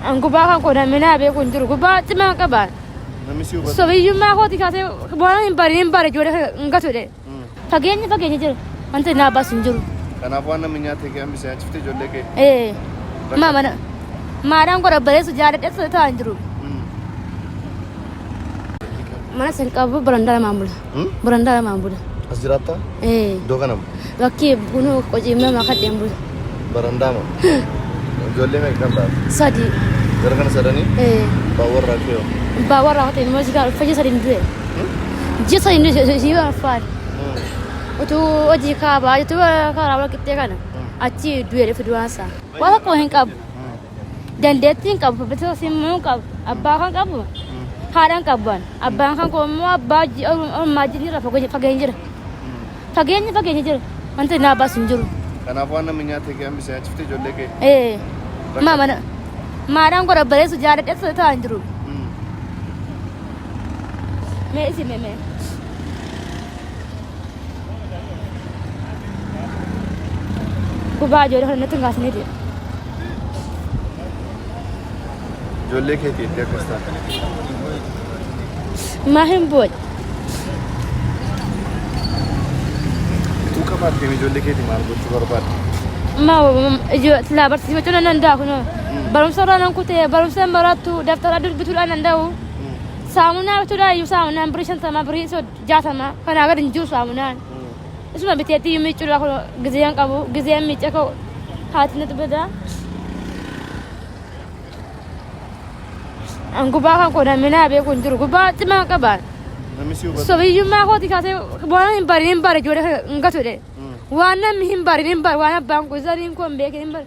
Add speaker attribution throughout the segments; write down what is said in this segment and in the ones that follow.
Speaker 1: An gubbaa kan koo namni naa beeku hin jiru. Gubbaa cimaa qaba. Namni si hubatu.
Speaker 2: Sobiyyummaa kooti kaasee
Speaker 1: waan hin bare hin bare ijoollee kana hin gatudhe. Mm. Fageenya fageenya jira. Wanta naa baasu hin jiru. Kanaaf waan namni nyaatee
Speaker 2: kee hambisee nyaachifte ijoollee kee. Ee. Ma mana. Maadhaan
Speaker 1: godha bareessu jaaladhe ta'aa hin jiru. Mm. Mana sin qabu barandaa lamaan bula. Hmm? Barandaa lamaan bula. As jiraattaa?
Speaker 2: Ee. Iddoo kanam? Bakki bunuu
Speaker 1: qociimee makadheen bula. Barandaama?
Speaker 2: Ijoollee meeqa kan taate? Sadii.
Speaker 1: Gara kana sadanii?
Speaker 2: Ee. Abbaan warraa kee hoo? Abbaa warraa koo ta'e immoo
Speaker 1: jigaa ulfa ji'a sadiin du'e. Hmm? Ji'a sadiin du'e si ulfaan. Hmm. Utuu hojii kaabaa jirtu karaa wal qixxee kana. Hmm. Achi du'e dhufe du'aan isaa. Waan tokko hin qabu. dandeettiin qabu babal'isuu simmuu hin qabu abbaa kan qabu haadhaan qaban abbaan kan qabu immoo abbaa ji- or- ormaa jirra fageenya jira fageenya fageenya jira wanti naa baasu hin jiru Kanaaf waan namni nyaatee
Speaker 2: kee hambisee nyaachifte ijoollee kee. ee maa mana maadhaan
Speaker 1: godha bareessu jaaladheessa ta'aa hin jiru Mm. mee isin mee mee Gubaa ijoollee kana natti hin kaasnee jira. Ijoollee
Speaker 2: keetii itti akkas taate.
Speaker 1: Maa hin booda.
Speaker 2: Utuu qabaattee ijoollee keetii maal gochuu barbaadda? Maa
Speaker 1: silaa barsiifachuu nan danda'a kun barumsa irraa nan kutee barumsa hin barattu daftara dubbisuudhaan danda'u. Saamunaa bituudhaan iyyuu saamunaan birii shantamaa birii sodda. jaatama kanaa gad hin jiru saamunaan isuma biteetti iyyuu miiccurraa kun gizeen qabu gizeen miicca ka'u haati natti bada an gubaa kan koo naminaa beeku hin jiru gubaa cimaa qabaan Namni si hubatu.
Speaker 2: sobiyyummaa kooti kaasee
Speaker 1: waan hin barin hin bare ijoollee kana hin gatudhe waan namni hin barin hin bare waan abbaan kun zariin koo hin beekin hin bare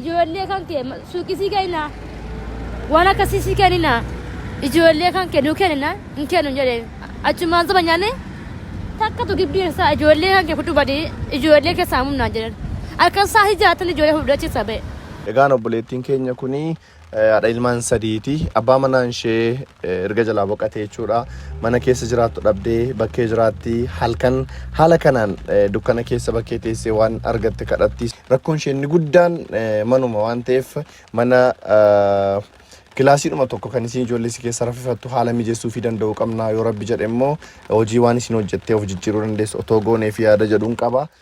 Speaker 1: Ijoollee kan kee suuqisii kennaa waan akkasii si kenninaa ijoollee kan kee nuu kennina hin kennu jedhee achumaan soba nyaanne takkatu gibbii keessaa ijoollee kan kee fudhu badii ijoollee keessaa humnaa jedhan akkas isaa si jaatan ijoollee fudhu achi sabee. Egaan obboleettiin
Speaker 2: keenya kun Haadha ilmaan sadiiti. Abbaa manaan ishee erga jalaa boqatee jechuudha. Mana keessa jiraattu dhabdee bakkee jiraatti. Halkan haala kanaan dukkana keessa bakkee teessee waan argatte kadhatti. Rakkoon ishee inni guddaan manuma waan ta'eef mana kilaasiidhuma tokko kan isin ijoollee si keessa raffifattu haala mijeessuu fi danda'uu qabna yoo rabbi jedhe immoo hojii waan isin hojjettee of jijjiiruu dandeessu otoo goonee fi yaada jedhuun qaba.